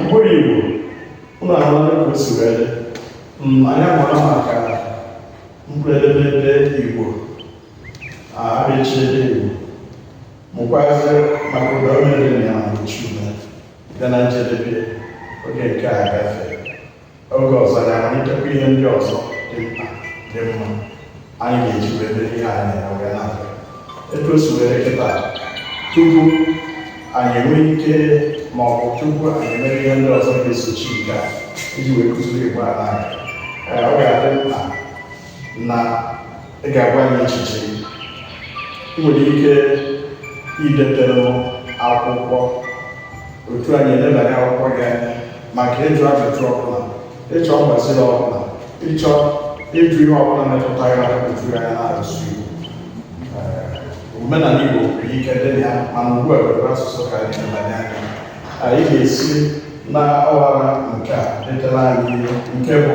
mkpụrụ igbo ụlọ ahụ ka o si wee dị Mm, anyị amara maka mkpụrụ edemede igbo abịịchịdị igbo mụkwazi maka ụdaume dị na ya ma mgbochiume bịa na njedebe oge nke a gafee oge ọzọ ya amalitekwa ihe ndị ọzọ dị mkpa dị mma anyị ga-eji wee mee ihe anyị na-eme wee na-aga etu o si were kịta tupu anyị enwee ike ma ọ bụ tupu anyị emee ihe ndị ọzọ ga-esochi nke a iji wee kụzie igbo a na-aga Ee, ọ ga-adị mkpa na ị ga-agwa anyị echiche gị ị nwere ike idetere m akwụkwọ otu anyị elebanye akwụkwọ gị anya maka ịjụ ajụjụ ọbụla ịchọ mgbaziri ọbụla ịchọ ịjụ ihe ọbụla metụta ya otu anyị na-asụ Igbo Ee, omenala nwere ike ịdị na ya mana ugbu a were asụsụ ka anyị elebanye anya ị ga-esi na ọwara nke a detara anyị nke bụ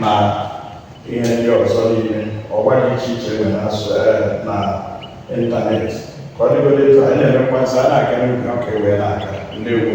na ihe ndị ọzọ niile ọwa dị iche iche e nwere asụ na ịntanetị ka ọ dịgodị etu anyị na-emekwa nsọ a na-aga n'ubi ọka ewee na-aka ndeewo